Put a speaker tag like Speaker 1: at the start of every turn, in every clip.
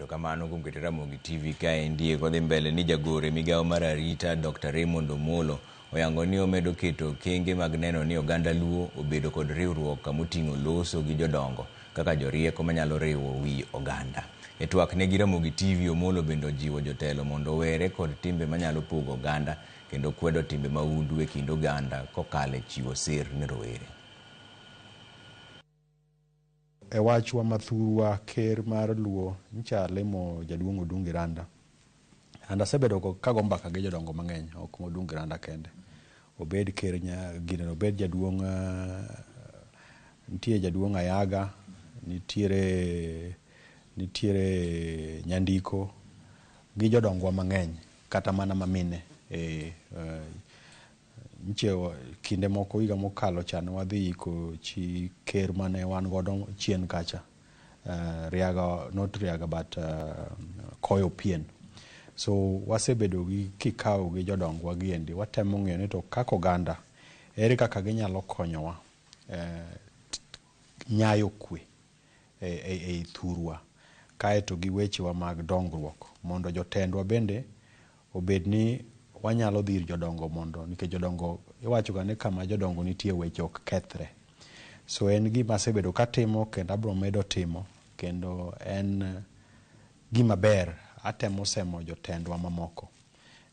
Speaker 1: kamano kuom keto Ramogi TV kaendi kodhi mbele ni jagore migawo mar arita Dr. Raymond Omolo oyango ni omedo keto kenge mag neno ni oganda Luo obedo kod riwruok kamoting'o loso gi jodongo kaka jorieko manyalo riwo wi oganda. E twak ne gi Ramogi TV, Omolo bende ojiwo jotelo mondo owere kod timbe manyalo pogo oganda kendo kwedo timbe mahundu e kind oganda kokalo e chiwo sir ne rowere.
Speaker 2: E wachwa ma thurwa, Ker mar Luo ncha limo Jaduong' Odungi Randa. And asebedo ka go mbaka gi jodongo mang'eny, ok ma Odungi Randa kende. Obed ker ginene, obed jaduong' nitie jaduong' Ayaga, nitiere nitiere Nyandiko gi jodongwa mang'eny. Kata mana ma mine. Eeh, nyiche kinde moko higa mokalo cha ne wadhi iko chi ker mane wan godo chien kacha. Uh, Riaga, not Riaga but uh, Koyo Pien. So wasebedo gi kikawo gi jodongwa giendi, watemo ng'eyo ni to kaka oganda ere kaka ginyalo konyowa eh, nyayo kwe ei thurwa, kae to gi wechewa mag dongruok, mondo jotendwa bende obed ni wanyalo dhi ir jodongo mondo nikech jodongo iwachoga ni kama jodongo nitie weche ok kethre. So en gima asebedo katimo kendo abiro medo timo kendo en gima ber. Atemo semo jotendwa mamoko.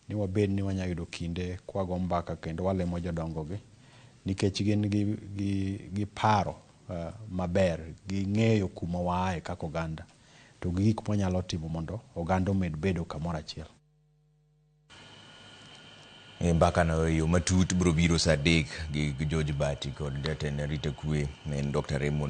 Speaker 2: ni wabed ni wanyalo yudo kinde kwago mbaka kendo walimo jodongogi nikech gin gi, gi, gi paro uh, maber, ging'eyo kuma waaye kaka oganda to gi gik mwanyalo timo mondo oganda omed bedo kamoro achiel.
Speaker 1: E mbakano e yo matut biro biro saa adek gi George Bati kod jatend arita kwe en Dr. Raymond